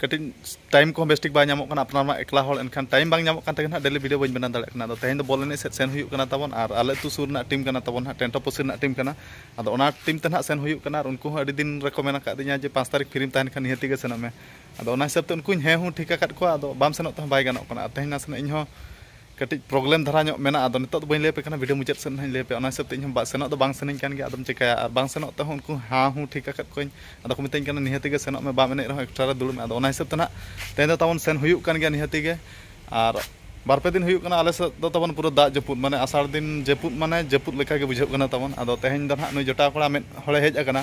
ᱠᱟᱹᱴᱤᱡ ᱴᱟᱭᱤᱢ ᱠᱚᱦᱚᱸ ᱵᱮᱥ ᱴᱷᱤᱠ ᱵᱟᱭ ᱧᱟᱢᱚᱜ ᱠᱟᱱᱟ ᱟᱯᱱᱟᱨ ᱢᱟ ᱮᱠᱞᱟ ᱦᱚᱲ ᱮᱱᱠᱷᱟᱱ ᱴᱟᱭᱤᱢ ᱵᱟᱝ ᱧᱟᱢᱚᱜ ᱠᱟᱱ ᱛᱮᱜᱮ ᱱᱟᱦᱟᱜ ᱰᱮᱞᱤ ᱵᱷᱤᱰᱤᱭᱳ ᱵᱟᱹᱧ ᱵᱮᱱᱟᱣ ᱫᱟᱲᱮᱭᱟᱜ ᱠᱟᱱᱟ ᱟᱫᱚ ᱛᱮᱦᱮᱧ ᱫᱚ ᱵᱚᱞ ᱮᱱᱮᱡ ᱥᱮᱫ ᱥᱮᱱ ᱦᱩᱭᱩᱜ ᱠᱟᱱᱟ ᱛᱟᱵᱚᱱ ᱟᱨ ᱟᱞᱮ ᱟᱹᱛᱩ ᱥᱩᱨ ᱨᱮᱱᱟᱜ ᱴᱤᱢ ᱠᱟᱱᱟ ᱛᱟᱵᱚᱱ ᱱᱟᱦᱟᱜ ᱴᱮᱱᱴᱚ ᱯᱩᱥᱤ ᱨᱮᱱᱟᱜ ᱴᱤᱢ ᱠᱟᱱᱟ ᱟᱫᱚ ᱚᱱᱟ ᱴᱤᱢ ᱛᱮ ᱱᱟᱦᱟᱜ ᱥᱮᱱ ᱦᱩᱭᱩᱜ ᱠᱟᱱᱟ ᱟᱨ ᱩᱱᱠᱩ ᱦᱚᱸ ᱟᱹᱰᱤ ᱫᱤᱱ ᱨᱮᱠᱚ ᱢᱮᱱ ᱟᱠᱟᱫᱤᱧᱟ ᱡᱮ ᱯᱟᱸᱪ ᱛᱟᱹᱨᱤᱠᱷ ᱯᱷᱤᱨᱤᱢ ᱛᱟᱦᱮᱱ ᱠᱷᱟᱱ ᱱᱤᱦᱟᱹᱛᱤ ᱜᱮ ᱥᱮᱱᱚᱜ ᱢᱮ ᱟᱫᱚ ᱚᱱᱟ ᱦᱤᱥᱟᱹᱵ ᱛᱮ ᱩᱱᱠᱩᱧ ᱦᱮᱸ ᱦᱩᱸ ᱴᱷᱤᱠ ᱟᱠᱟᱫ ᱠᱚᱣᱟ ᱟᱫᱚ ᱵᱟᱢ ᱥᱮᱱᱚᱜ ᱛᱮᱦᱚᱸ ᱵᱟᱭ ᱜᱟᱱᱚᱜ ᱠᱟᱱᱟ ᱟᱨ ᱛᱮᱦᱮᱧ ᱱᱟᱥᱮᱱᱟᱜ ᱤᱧ ᱦᱚᱸ ᱠᱟᱹᱴᱤᱡ ᱯᱨᱚᱵᱞᱮᱢ ᱫᱷᱟᱨᱟ ᱧᱚᱜ ᱢᱮᱱᱟᱜᱼᱟ ᱟᱫᱚ ᱱᱤᱛᱚᱜ ᱫᱚ ᱵᱟᱹᱧ ᱞᱟᱹᱭᱟᱯᱮ ᱠᱟᱱᱟ ᱵᱷᱤᱰᱤᱭᱳ ᱢᱩᱪᱟᱹᱫ ᱥᱮᱫ ᱱᱟᱦᱟᱜ ᱤᱧ ᱞᱟᱹᱭᱟᱯᱮᱭᱟ ᱚᱱᱟ ᱦᱤᱥᱟᱹᱵ ᱛᱮ ᱤᱧ ᱦᱚᱸ ᱥᱮᱱᱚᱜ ᱫᱚ ᱵᱟᱝ ᱥᱟᱱᱟᱧ ᱠᱟᱱ ᱜᱮᱭᱟ ᱟᱫᱚᱢ ᱪᱤᱠᱟᱹᱭᱟ ᱟᱨ ᱵᱟᱝ ᱥᱮᱱᱚᱜ ᱛᱮᱦᱚᱸ ᱩᱱᱠᱩ ᱦᱮᱸ ᱦᱩᱸ ᱴᱷᱤᱠ ᱟᱠᱟᱫ ᱠᱚᱣᱟᱹᱧ ᱟᱫᱚ ᱠᱚ ᱢᱤᱛᱟᱹᱧ ᱠᱟᱱᱟ ᱱᱤᱦᱟᱹᱛᱤ ᱜᱮ ᱥᱮᱱᱚᱜ ᱢᱮ ᱵᱟᱢ ᱮᱱᱮᱡ ᱨᱮᱦᱚᱸ ᱮᱠᱥᱴᱨᱟ ᱨᱮ ᱫᱩᱲᱩᱵ ᱢᱮ ᱟᱫᱚ ᱚᱱᱟ ᱦᱤᱥᱟᱹᱵ ᱛᱮ ᱱᱟᱦᱟᱜ ᱛᱮᱦᱮᱧ ᱫᱚ ᱛᱟᱵᱚᱱ ᱥᱮᱱ ᱦᱩᱭᱩᱜ ᱠᱟᱱ ᱜᱮᱭᱟ ᱱᱤᱦᱟᱹᱛᱤ ᱜᱮ ᱟᱨ ᱵᱟᱨ ᱯᱮ ᱫᱤᱱ ᱦᱩᱭᱩᱜ ᱠᱟᱱᱟ ᱟᱞᱮ ᱥᱮᱫ ᱫᱚ ᱛᱟᱵᱚᱱ ᱯᱩᱨᱟᱹ ᱫᱟᱜ ᱡᱟᱹᱯᱩᱫ ᱢᱟᱱᱮ ᱟᱥᱟᱲ ᱫᱤᱱ ᱡᱟᱹᱯᱩᱫ ᱢᱟᱱᱮ ᱡᱟᱹᱯᱩᱫ ᱞᱮᱠᱟ ᱜᱮ ᱵᱩᱡᱷᱟᱹᱜ ᱠᱟᱱᱟ ᱛᱟᱵᱚᱱ ᱟᱫᱚ ᱛᱮᱦᱮᱧ ᱫᱚ ᱱᱟᱦᱟᱜ ᱱᱩᱭ ᱡᱚᱴᱟᱣ ᱠᱚᱲᱟ ᱢᱤᱫ ᱦᱚᱲᱮ ᱦᱮᱡ ᱟᱠᱟᱱᱟ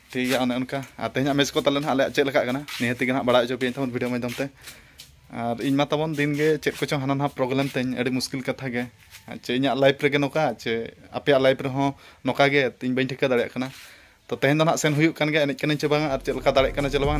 ᱴᱷᱤᱠ ᱜᱮᱭᱟ ᱚᱱᱮ ᱚᱱᱠᱟ ᱟᱨ ᱛᱮᱦᱮᱧᱟᱜ ᱢᱮᱪ ᱠᱚ ᱛᱟᱞᱮ ᱱᱟᱦᱟᱜ ᱟᱞᱮᱭᱟᱜ ᱪᱮᱫ ᱞᱮᱠᱟᱜ ᱠᱟᱱᱟ ᱱᱤᱦᱟᱹᱛ ᱜᱮ ᱱᱟᱦᱟᱜ ᱵᱟᱲᱟᱭ ᱦᱚᱪᱚ ᱯᱮᱭᱟᱹᱧ ᱛᱟᱵᱚᱱ ᱵᱷᱤᱰᱤᱭᱳ ᱢᱟᱫᱽᱫᱷᱚᱢ ᱛᱮ ᱟᱨ ᱤᱧ ᱢᱟ ᱛᱟᱵᱚᱱ ᱫᱤᱱ ᱜᱮ ᱪᱮᱫ ᱠᱚᱪᱚ ᱦᱟᱱᱟ ᱱᱟᱦᱟᱜ ᱯᱨᱚᱵᱞᱮᱢ ᱛᱤᱧ ᱟᱹᱰᱤ ᱢᱩᱥᱠᱤᱞ ᱠᱟᱛᱷᱟ ᱜᱮ ᱪᱮ ᱤᱧᱟᱹᱜ ᱞᱟᱭᱤᱯᱷ ᱨᱮᱜᱮ ᱱᱚᱝᱠᱟ ᱪᱮ ᱟᱯᱮᱭᱟᱜ ᱞᱟᱭᱤᱯᱷ ᱨᱮᱦᱚᱸ ᱱᱚᱝᱠᱟ ᱜᱮ ᱤᱧ ᱵᱟᱹᱧ ᱴᱷᱤᱠᱟᱹ ᱫᱟᱲᱮᱭᱟᱜ ᱠᱟᱱᱟ ᱛᱚ ᱛᱮᱦᱮᱧ ᱫᱚ ᱱᱟᱦᱟᱜ ᱥᱮᱱ ᱦᱩᱭᱩᱜ ᱠᱟᱱ ᱜᱮᱭᱟ ᱮᱱᱮᱡ ᱠᱟᱹᱱᱟᱹᱧ ᱪᱮ ᱵᱟᱝᱟ ᱟᱨ ᱪᱮᱫ ᱞᱮᱠᱟ ᱫᱟᱲᱮᱭᱟᱜ ᱠᱟᱱᱟ ᱪᱮ ᱵᱟᱝᱟ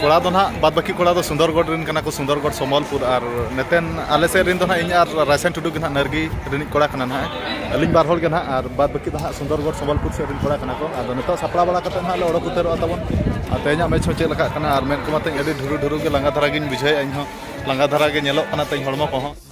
ᱠᱚᱲᱟ ᱫᱚ ᱱᱟᱜ ᱵᱟᱫ ᱵᱟᱹᱠᱤ ᱠᱚᱲᱟ ᱫᱚ ᱥᱩᱱᱫᱚᱨᱜᱚᱲ ᱨᱮᱱ ᱠᱟᱱᱟ ᱠᱚ ᱥᱩᱱᱫᱚᱨᱜᱚᱲ ᱥᱚᱢᱚᱞᱯᱩᱨ ᱟᱨ ᱱᱮᱛᱮᱱ ᱟᱞᱮ ᱥᱮᱫ ᱨᱮᱱ ᱫᱚ ᱱᱟᱜ ᱤᱧ ᱟᱨ ᱨᱟᱭᱥᱮᱱ ᱴᱩᱰᱩ ᱜᱮ ᱱᱟᱜ ᱱᱟᱨᱜᱤ ᱨᱤᱱᱤᱡ ᱠᱚᱲᱟ ᱠᱟᱱᱟ ᱱᱟᱜ ᱟᱹᱞᱤᱧ ᱵᱟᱨ ᱦᱚᱲ ᱜᱮ ᱱᱟᱜ ᱟᱨ ᱵᱟᱫ ᱵᱟᱹᱠᱤ ᱫᱚ ᱱᱟᱜ ᱥᱩᱱᱫᱚᱨᱜᱚᱲ ᱥᱚᱢᱚᱞᱯᱩᱨ ᱥᱮᱫ ᱨᱮᱱ ᱠᱚᱲᱟ ᱠᱟᱱᱟ ᱠᱚ ᱟᱫᱚ ᱱᱤᱛᱚᱜ ᱥᱟᱯᱲᱟᱣ ᱵᱟᱲᱟ ᱠᱟᱛᱮ ᱱᱟᱜ ᱞᱮ ᱚᱰᱚᱠ ᱩᱛᱟᱹᱨᱚᱜᱼᱟ ᱛᱟᱵᱚᱱ ᱟᱨ ᱛᱮᱦᱮᱧᱟᱜ ᱢᱮᱪ ᱦᱚᱸ ᱪᱮᱫ ᱞᱮᱠᱟᱜ ᱠᱟᱱᱟ ᱟᱨ ᱢᱮᱱ ᱠᱚᱢᱟ ᱛᱮᱦᱮᱧ ᱟᱹᱰᱤ ᱰᱷᱩᱨᱩ ᱰᱷᱩᱨᱩ ᱜᱮ ᱞᱟᱸᱜᱟ ᱫᱷᱟᱨᱟ ᱜᱤᱧ ᱵᱩᱡᱷᱟᱹᱣᱮᱫᱼᱟ ᱤᱧ ᱦᱚᱸ ᱞᱟᱸᱜᱟ ᱫᱷᱟᱨᱟ ᱜᱮ ᱧᱮᱞᱚᱜ ᱠᱟᱱᱟ ᱛᱮᱦᱮᱧ ᱦᱚᱲᱢᱚ ᱠᱚᱦᱚᱸ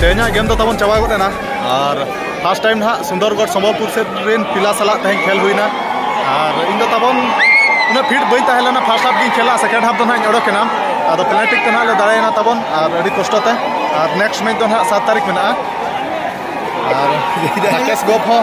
ᱛᱮᱦᱮᱧᱟᱜ ᱜᱮᱢ ᱫᱚ ᱛᱟᱵᱚᱱ ᱪᱟᱵᱟ ᱜᱚᱫ ᱮᱱᱟ ᱟᱨ ᱯᱷᱟᱥᱴ ᱴᱟᱭᱤᱢ ᱱᱟᱦᱟᱜ ᱥᱩᱱᱫᱚᱨᱜᱚᱲ ᱥᱚᱢᱵᱚᱞᱯᱩᱨ ᱥᱮᱫ ᱨᱮᱱ ᱯᱤᱞᱟ ᱥᱟᱞᱟᱜ ᱛᱮᱦᱮᱧ ᱠᱷᱮᱞ ᱦᱩᱭᱱᱟ ᱟᱨ ᱤᱧ ᱫᱚ ᱛᱟᱵᱚᱱ ᱩᱱᱟᱹᱜ ᱯᱷᱤᱴ ᱵᱟᱹᱧ ᱛᱟᱦᱮᱸ ᱞᱮᱱᱟ ᱯᱷᱟᱥᱴ ᱦᱟᱯ ᱜᱤᱧ ᱠᱷᱮᱞᱟ ᱥᱮᱠᱮᱱᱰ ᱦᱟᱯ ᱫᱚ ᱱᱟᱦᱟᱜ ᱤᱧ ᱚᱰᱚᱠᱮᱱᱟ ᱟᱫᱚ ᱯᱮᱱᱟᱞᱴᱤ ᱛᱮ ᱱᱟᱦᱟᱜ ᱞᱮ ᱫᱟᱲᱮᱭᱮᱱᱟ ᱛᱟᱵᱚᱱ ᱟᱨ ᱟᱹᱰᱤ ᱠᱚᱥᱴᱚ ᱛᱮ ᱟᱨ ᱱᱮᱠᱥᱴ ᱢᱮᱪ ᱫᱚ ᱱᱟᱦᱟᱜ ᱥᱟᱛ ᱛᱟᱹᱨᱤᱠᱷ ᱢᱮᱱᱟᱜᱼᱟ ᱟᱨ ᱨᱟᱠᱮᱥ ᱜᱚᱯ ᱦᱚᱸ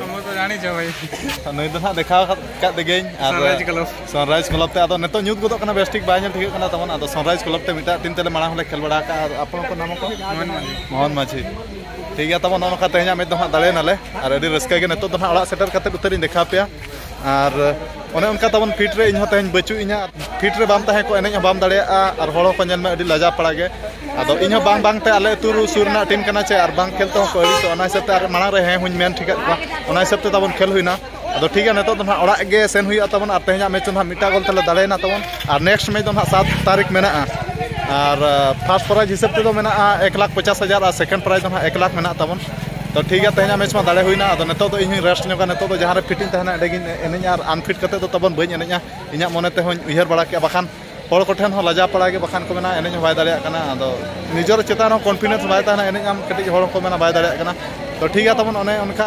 ᱛᱚᱢᱚ ᱛᱚ ᱡᱟᱱᱤ ᱪᱚ ᱵᱷᱟᱭ ᱱᱩᱭ ᱫᱚ ᱱᱟᱜ ᱫᱮᱠᱷᱟᱣ ᱠᱟᱫ ᱫᱮᱜᱮᱧ ᱟᱨ ᱥᱟᱱᱨᱟᱭᱤᱡ ᱠᱞᱟᱵ ᱥᱟᱱᱨᱟᱭᱤᱡ ᱠᱞᱟᱵ ᱛᱮ ᱟᱫᱚ ᱱᱤᱛᱚᱜ ᱧᱩᱛ ᱜᱚᱫᱚᱜ ᱠᱟᱱᱟ ᱵᱮᱥ ᱴᱷᱤᱠ ᱵᱟᱭ ᱧᱮᱞ ᱴᱷᱤᱠᱟᱹᱜ ᱠᱟᱱᱟ ᱛᱟᱵᱚᱱ ᱟᱫᱚ ᱥᱟᱱᱨᱟᱭᱤᱡ ᱠᱞᱟᱵ ᱛᱮ ᱢᱤᱫᱴᱟᱜ ᱴᱤᱢ ᱛᱮᱞᱮ ᱢᱟᱲᱟᱝ ᱦᱚᱸᱞᱮ ᱠᱷᱮᱞ ᱵᱟᱲᱟ ᱟᱠᱟᱫ ᱟᱨ ᱟᱯᱚᱱ ᱟᱯᱚᱱ ᱱᱟᱢ ᱠᱚ ᱢᱳᱦᱚᱱ ᱢᱟᱹᱡᱷᱤ ᱴᱷᱤᱠ ᱜᱮᱭᱟ ᱛᱟᱵᱚᱱ ᱱᱚᱜᱼᱚ ᱱᱚᱝᱠᱟ ᱛᱮᱦᱮᱧᱟᱜ ᱢᱮᱪ ᱫᱚ ᱱᱟᱜ ᱫᱟᱲᱮᱭᱮᱱᱟᱞᱮ ᱟᱨ ᱟᱹᱰᱤ ᱨᱟᱹᱥᱠᱟᱹ ᱜᱮ ᱱᱤᱛᱚᱜ ᱫᱚ ᱱᱟᱜ ᱚᱲᱟᱜ ᱥᱮᱴᱮᱨ ᱠᱟᱛᱮᱫ ᱩᱛᱟᱹᱨᱤᱧ ᱫᱮᱠᱷᱟᱣ ᱯᱮᱭᱟ ᱟᱨ ᱚᱱᱮ ᱚᱱᱠᱟ ᱛᱟᱵᱚᱱ ᱯᱷᱤᱴ ᱨᱮ ᱤᱧ ᱦᱚᱸ ᱛᱮᱦᱮᱧ ᱵᱟᱹᱪᱩᱜ ᱤᱧᱟ ᱯᱷᱤᱴ ᱨᱮ ᱵᱟᱢ ᱛᱟᱦᱮᱸ ᱠᱚᱜ ᱮᱱᱮᱡ ᱦᱚᱸ ᱵᱟᱢ ᱫᱟᱲᱮᱭᱟᱜᱼᱟ ᱟᱨ ᱦᱚᱲ ᱦᱚᱸᱠᱚ ᱧᱮᱞ ᱢᱮ ᱟᱹᱰᱤ ᱞᱟᱡᱟ ᱯᱟᱲᱟ ᱜᱮ ᱟᱫᱚ ᱤᱧ ᱦᱚᱸ ᱵᱟᱝ ᱵᱟᱝ ᱛᱮ ᱟᱞᱮ ᱟᱹᱛᱩ ᱥᱩᱨ ᱨᱮᱱᱟᱜ ᱴᱤᱢ ᱠᱟᱱᱟ ᱪᱮ ᱟᱨ ᱵᱟᱝ ᱠᱷᱮᱞ ᱛᱮᱦᱚᱸ ᱠᱚ ᱟᱹᱲᱤᱥᱚᱜᱼᱟ ᱚᱱᱟ ᱦᱤᱥᱟᱹᱵ ᱛᱮ ᱟᱨ ᱢᱟᱲᱟᱝ ᱨᱮ ᱦᱮᱸ ᱦᱚᱧ ᱢᱮᱱ ᱴᱷᱤᱠᱟᱫ ᱠᱚᱣᱟ ᱚᱱᱟ ᱦᱤᱥᱟᱹᱵ ᱛᱮ ᱛᱟᱵᱚᱱ ᱠᱷᱮᱞ ᱦᱩᱭᱱᱟ ᱟᱫᱚ ᱴᱷᱤᱠ ᱜᱮᱭᱟ ᱱᱤᱛᱚᱜ ᱫᱚ ᱱᱟᱦᱟᱜ ᱚᱲᱟᱜ ᱜᱮ ᱥᱮᱱ ᱦᱩᱭᱩᱜᱼᱟ ᱛᱟᱵᱚᱱ ᱟᱨ ᱛᱮᱦᱮᱧᱟᱜ ᱢᱮᱪ ᱫᱚ ᱱᱟᱦᱟᱜ ᱢᱤᱫᱴᱟᱝ ᱜᱳᱞ ᱛᱮᱞᱮ ᱫᱟᱲᱮᱭᱮᱱᱟ ᱛᱟᱵᱚᱱ ᱟᱨ ᱱᱮᱠᱥᱴ ᱢᱮᱪ ᱫᱚ ᱱᱟᱦᱟᱜ ᱥᱟᱛ ᱛᱟᱹᱨᱤᱠᱷ ᱢᱮᱱᱟᱜᱼᱟ ᱟᱨ ᱯᱷᱟᱥᱴ ᱯᱨᱟᱭᱤᱡᱽ ᱦᱤᱥᱟᱹᱵ ᱛᱮᱫᱚ ᱢᱮᱱᱟᱜᱼᱟ ᱮᱠ ᱞᱟᱠᱷ ᱯᱚᱪᱟᱥ ᱦᱟᱡᱟᱨ ᱟᱨ ᱥᱮᱠᱮᱱᱰ ᱯᱨᱟᱭᱤᱡᱽ ᱫᱚ ᱱᱟᱦᱟᱜ ᱮᱠ ᱞᱟᱠᱷ ᱢᱮᱱᱟᱜ ᱛᱟᱵᱚᱱ ᱛᱚ ᱴᱷᱤᱠ ᱜᱮᱭᱟ ᱛᱮᱦᱮᱧᱟᱜ ᱢᱮᱪ ᱢᱟ ᱫᱟᱲᱮ ᱦᱩᱭᱱᱟ ᱟᱫᱚ ᱱᱤᱛᱚᱜ ᱫᱚ ᱤᱧ ᱨᱮᱥᱴ ᱧᱚᱜᱟ ᱱᱤᱛᱚᱜ ᱫᱚ ᱡᱟᱦᱟᱸ ᱨᱮ ᱯᱷᱤᱴᱤᱧ ᱛᱟᱦᱮᱱᱟ ᱚᱸᱰᱮ ᱜᱤᱧ ᱮᱱᱮᱡᱟ ᱟᱨ ᱟᱱᱯᱷᱤᱴ ᱠᱟᱛᱮ ᱫᱚ ᱛᱟᱵᱚᱱ ᱵᱟᱹᱧ ᱮᱱᱮᱡᱟ ᱤᱧᱟᱹᱜ ᱢᱚᱱᱮ ᱛᱮᱦᱚᱧ ᱩᱭᱦᱟᱹᱨ ᱵᱟᱲᱟ ᱠᱮᱜᱼᱟ ᱵᱟᱠᱷᱟᱱ ᱦᱚᱲ ᱠᱚᱴᱷᱮᱱ ᱦᱚᱸ ᱞᱟᱡᱟ ᱯᱟᱲᱟ ᱜᱮ ᱵᱟᱠᱷᱟᱱ ᱠᱚ ᱢᱮᱱᱟ ᱮᱱᱮᱡ ᱦᱚᱸ ᱵᱟᱭ ᱫᱟᱲᱮᱭᱟᱜ ᱠᱟᱱᱟ ᱟᱫᱚ ᱱᱤᱡᱮᱨ ᱪᱮᱛᱟᱱ ᱨᱮ ᱠᱚᱱᱯᱷᱤᱰᱮᱱᱥ ᱵᱟᱭ ᱛᱟᱦᱮᱱᱟ ᱮᱱᱮᱡ ᱟᱢ ᱠᱟᱹᱴᱤᱡ ᱦᱚᱲ ᱠᱚ ᱢᱮᱱᱟ ᱵᱟᱭ ᱫᱟᱲᱮᱭᱟᱜ ᱠᱟᱱᱟ ᱛᱚ ᱴᱷᱤᱠ ᱜᱮᱭᱟ ᱛᱟᱵᱚᱱ ᱚᱱᱮ ᱚᱱᱠᱟ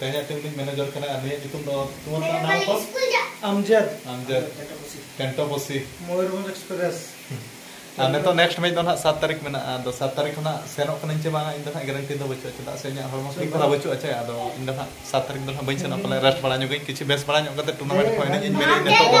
ᱛᱮᱦᱮᱧᱟᱜ ᱴᱤᱢ ᱨᱤᱱᱤᱡ ᱢᱮᱱᱮᱡᱚᱨ ᱠᱟᱱᱟᱭ ᱟᱨ ᱱᱩᱭᱟᱜ ᱧᱩᱛᱩᱢ ᱫᱚ ᱛᱩᱢᱟᱨ ᱠᱟᱱᱟ ᱱᱟᱢ ᱠᱚ ᱟᱢᱡᱟᱫ ᱟᱢᱡᱟᱫ ᱠᱮᱱᱴᱚᱯᱚᱥᱤ ᱢᱚᱭᱩᱨᱵᱷᱚᱸᱡᱽ ᱮᱠᱥᱯᱨᱮᱥ ᱟᱨ ᱱᱤᱛᱚᱜ ᱱᱮᱠᱥᱴ ᱢᱮᱪ ᱫᱚ ᱱᱟᱜ ᱥᱟᱛ ᱛᱟᱹᱨᱤᱠᱷ ᱢᱮᱱᱟᱜᱼᱟ ᱟᱫᱚ ᱥᱟᱛ ᱛᱟᱹᱨᱤᱠᱷ ᱠᱷᱚᱱᱟᱜ ᱥᱮᱱᱚᱜ ᱠᱟᱹᱱᱟᱹᱧ ᱪᱮ ᱵᱟᱝᱟ ᱤᱧ ᱫᱚ ᱱᱟᱜ ᱜᱮᱨᱮᱱᱴᱤ ᱫᱚ ᱵᱟᱹᱪᱩᱜᱼᱟ ᱪᱮᱫᱟᱜ ᱥᱮ ᱤᱧᱟᱹᱜ ᱦᱚᱲᱢᱚ ᱴᱷᱤᱠ ᱫᱷᱟᱨᱟ ᱵᱟᱹᱪᱩᱜᱼᱟ ᱪᱮ ᱟᱫᱚ ᱤᱧ ᱫᱚ ᱱᱟᱜ ᱥᱟᱛ ᱛᱟᱹᱨᱤᱠᱷ ᱫᱚ ᱱᱟᱜ ᱵᱟᱹᱧ ᱥᱮᱱᱚᱜᱼᱟ ᱯᱟᱞᱮ ᱨᱮᱥᱴ ᱵᱟᱲᱟ ᱧᱚᱜᱟᱹᱧ ᱠᱤᱪᱷᱩ ᱵᱮᱥ ᱵᱟᱲᱟ ᱧᱚᱜ ᱠᱟᱛᱮ ᱴᱩᱨᱱᱟᱢᱮᱱᱴ ᱠᱚ ᱮᱱᱮᱡ ᱤᱧ ᱢᱮᱱᱮᱫ ᱱᱤᱛᱚᱜ ᱫᱚ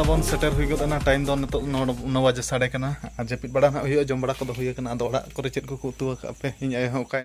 ᱛᱟᱵᱚᱱ ᱥᱮᱴᱮᱨ ᱦᱩᱭ ᱜᱚᱫ ᱮᱱᱟ ᱴᱟᱭᱤᱢ ᱫᱚ ᱱᱤᱛᱚᱜ ᱱᱚ ᱵᱟᱡᱮ ᱥᱟᱰᱮ ᱠᱟᱱᱟ ᱟᱨ ᱡᱟᱹᱯᱤᱫ ᱵᱟᱲᱟ ᱱᱟᱜ ᱦᱩᱭᱩᱜᱼᱟ ᱡᱚᱢ ᱵᱟᱲᱟ ᱠᱚᱫᱚ ᱦᱩᱭ ᱟᱠᱟᱱᱟ ᱟᱫᱚ ᱚᱲᱟᱜ ᱠᱚᱨᱮ ᱪᱮᱫ ᱠᱚᱠᱚ ᱩᱛᱩ ᱟᱠᱟᱫ ᱯᱮ ᱤᱧ ᱟᱭᱳ ᱦᱚᱸ ᱚᱠᱟᱭ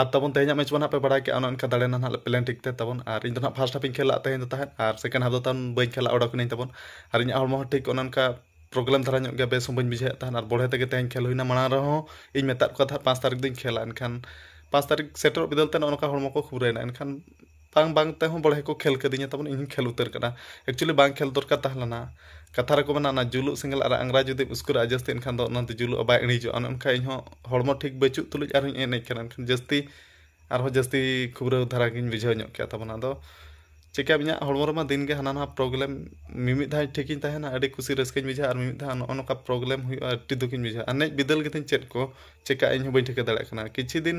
ᱟᱨ ᱛᱟᱵᱚᱱ ᱛᱮᱦᱮᱧᱟᱜ ᱢᱮᱪ ᱵᱚᱱ ᱦᱟᱸᱜ ᱯᱮ ᱵᱟᱲᱟᱭ ᱠᱮᱜᱼᱟ ᱚᱱᱮ ᱚᱱᱠᱟ ᱫᱟᱲᱮ ᱱᱟᱦᱟᱜ ᱯᱞᱮᱱ ᱴᱷᱤᱠ ᱛᱮ ᱛᱟᱵᱚᱱ ᱟᱨ ᱤᱧ ᱫᱚ ᱱᱟᱦᱟᱜ ᱯᱷᱟᱥᱴ ᱦᱟᱯᱤᱧ ᱠᱷᱮᱞᱟᱜ ᱛᱟᱦᱮᱸ ᱫᱚ ᱛᱟᱦᱮᱸᱫ ᱟᱨ ᱥᱮᱠᱮᱱᱰ ᱦᱟᱯ ᱫᱚ ᱛᱟᱵᱚᱱ ᱵᱟᱹᱧ ᱠᱷᱮᱞᱟ ᱚᱰᱚᱠᱱᱟᱹᱧ ᱛᱟᱵᱚᱱ ᱟᱨ ᱤᱧᱟᱹᱜ ᱦᱚᱲᱢᱚ ᱦᱚᱸ ᱴᱷᱤᱠ ᱚᱱᱮ ᱚᱱᱠᱟ ᱯᱨᱚᱵᱞᱮᱢ ᱫᱷᱟᱨᱟ ᱧᱚᱜ ᱜᱮᱭᱟ ᱵᱮᱥ ᱦᱚᱸ ᱵᱟᱹᱧ ᱵᱩᱡᱷᱟᱹᱣᱮᱫ ᱛᱟᱦᱮᱱ ᱟᱨ ᱵᱚᱲᱦᱮ ᱛᱮᱜᱮ ᱛᱮᱦᱮᱧ ᱠᱷᱮᱞ ᱦᱩᱭᱱᱟ ᱢᱟᱲᱟᱝ ᱨᱮᱦᱚᱸ ᱤᱧ ᱢᱮᱛᱟᱫ ᱠᱚ ᱛᱟᱦᱮᱸᱫ ᱯᱟᱸᱪ ᱛᱟᱹᱨᱤᱠᱷ ᱫᱚᱧ ᱠᱷᱮᱞᱟ ᱮᱱᱠᱷᱟᱱ ᱯᱟᱸᱪ ᱛᱟᱹᱨᱤᱠᱷ ᱥᱮᱴᱮᱨᱚᱜ ᱵᱤᱫᱟᱹᱞ ᱛᱮ ᱱᱚᱜᱼᱚ ᱱᱚᱝᱠᱟ ᱦᱚᱲᱢᱚ ᱠᱚ ᱠᱷᱩᱨᱟᱹᱭᱮᱱᱟ ᱮᱱᱠᱷᱟᱱ ᱵᱟᱝ ᱵᱟᱝ ᱛᱮᱦᱚᱸ ᱵᱚᱲᱦᱮ ᱠᱚ ᱠᱷᱮᱞ ᱠᱟᱹᱫᱤᱧᱟ ᱛᱟᱵᱚᱱ ᱤᱧ ᱦᱚᱸᱧ ᱠᱷᱮᱞ ᱩᱛᱟᱹᱨ ᱠᱟᱱᱟ ᱮᱠᱪᱩᱭᱮᱞᱤ ᱵᱟᱝ ᱠᱷᱮᱞ ᱫᱚᱨᱠᱟᱨ ᱛᱟᱦᱮᱸ ᱞᱮᱱᱟ ᱠᱟᱛᱷᱟ ᱨᱮᱠᱚ ᱢᱮᱱᱟ ᱚᱱᱟ ᱡᱩᱞᱩᱜ ᱥᱮᱸᱜᱮᱞ ᱟᱨ ᱟᱝᱜᱽᱨᱟ ᱡᱩᱫᱤᱢ ᱩᱥᱠᱩᱨᱟᱜᱼᱟ ᱡᱟᱹᱥᱛᱤ ᱮᱱᱠᱷᱟᱱ ᱫᱚ ᱚᱱᱟ ᱫᱚ ᱡᱩᱞᱩᱜᱼᱟ ᱵᱟᱭ ᱤᱬᱤᱡᱚᱜᱼᱟ ᱚᱱᱮ ᱚᱱᱠᱟ ᱤᱧ ᱦᱚᱸ ᱦᱚᱲᱢᱚ ᱴᱷᱤᱠ ᱵᱟᱹᱪᱩᱜ ᱛᱩᱞᱩᱡ ᱟᱨ ᱦᱚᱸᱧ ᱮᱱᱮᱡ ᱠᱟᱱᱟ ᱮᱱᱠᱷᱟᱱ ᱡᱟᱹᱥᱛᱤ ᱟᱨ ᱦᱚᱸ ᱡᱟᱹᱥᱛᱤ ᱠᱷᱩᱵᱨᱟᱹᱣ ᱫᱷᱟᱨᱟ ᱜᱤᱧ ᱵᱩᱡᱷᱟᱹᱣ ᱧᱚᱜ ᱠᱮᱜᱼᱟ ᱛᱟᱵᱚᱱ ᱟᱫᱚ ᱪᱤᱠᱟᱹᱭᱟᱢ ᱤᱧᱟᱹᱜ ᱦᱚᱲᱢᱚ ᱨᱮᱢᱟ ᱫᱤᱱ ᱜᱮ ᱦᱟᱱᱟ ᱱᱟᱣᱟ ᱯᱨᱚᱵᱞᱮᱢ ᱢᱤᱢᱤᱫ ᱫᱷᱟᱣ ᱴᱷᱤᱠ ᱤᱧ ᱛᱟᱦᱮᱱᱟ ᱟᱹᱰᱤ ᱠᱩᱥᱤ ᱨᱟᱹᱥᱠᱟᱹᱧ ᱵᱩᱡᱷᱟᱹᱣᱟ ᱟᱨ ᱢᱤᱢᱤᱫ ᱫᱷᱟᱣ ᱱᱚᱜᱼᱚ ᱱᱚᱝᱠᱟ ᱯᱨᱚᱵᱞᱮᱢ ᱦᱩᱭᱩᱜᱼᱟ ᱟᱹᱰᱤ ᱫᱩᱠᱤᱧ ᱵᱩᱡᱷᱟᱹᱣᱟ ᱮᱱᱮᱡ ᱵᱤᱫᱟᱹᱞ ᱜᱮᱛᱤᱧ ᱪᱮᱫ ᱠᱚ ᱪᱤᱠᱟᱹᱜᱼᱟ ᱤᱧ ᱦᱚᱸ ᱵᱟᱹᱧ ᱴᱷᱤᱠᱟᱹ ᱫᱟᱲᱮᱭᱟᱜ ᱠᱟᱱᱟ ᱠᱤᱪᱷᱩ ᱫᱤᱱ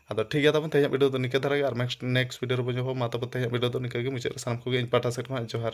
ᱟᱫᱚ ᱴᱷᱤᱠ ᱜᱮᱭᱟ ᱛᱟᱵᱚᱱ ᱛᱮᱦᱮᱧᱟᱜ ᱵᱷᱤᱰᱤᱭᱳ ᱫᱚ ᱱᱤᱝᱠᱟᱹ ᱫᱷᱟᱨᱟ ᱜᱮ ᱟᱨ ᱱᱮᱠᱥᱴ ᱱᱮᱠᱥᱴ ᱵᱷᱤᱰᱤᱭᱳ ᱨᱮᱵᱚᱱ ᱧᱟᱯᱟᱢᱟ ᱢᱟ ᱛᱟᱵᱚᱱ ᱛᱮᱦᱮᱧᱟᱜ ᱵᱷᱤᱰᱤᱭᱳ ᱫᱚ ᱱᱤᱝᱠᱟᱹ ᱜᱮ ᱢᱩᱪᱟᱹᱫ ᱨᱮ ᱥᱟᱱᱟᱢ ᱠᱚᱜᱮ ᱤᱧ ᱯᱟᱦᱴᱟ ᱥᱮᱫ ᱠᱷᱚᱱᱟᱜ ᱡᱚᱦᱟᱨ